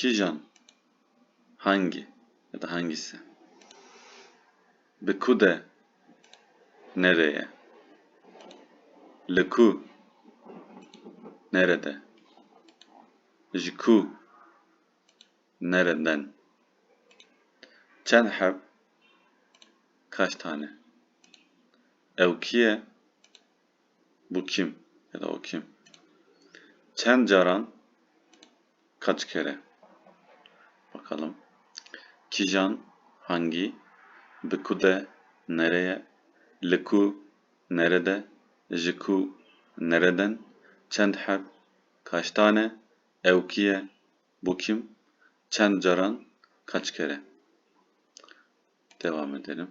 Kîjan, hangî ya da hangîse, bi ku de, nerê ye, li ku, nere de, ji ku, nere den, çend heb, kaç tane, ew kî ye, bu kim ya da o kim? Çend caran, kaç kere? Bakalım. Kijan, hangi, bi ku de, nereye, li ku, nerede, ji ku, nereden, çend heb, kaç tane, ew kî ye, bu kim, çend caran, kaç kere? Devam edelim.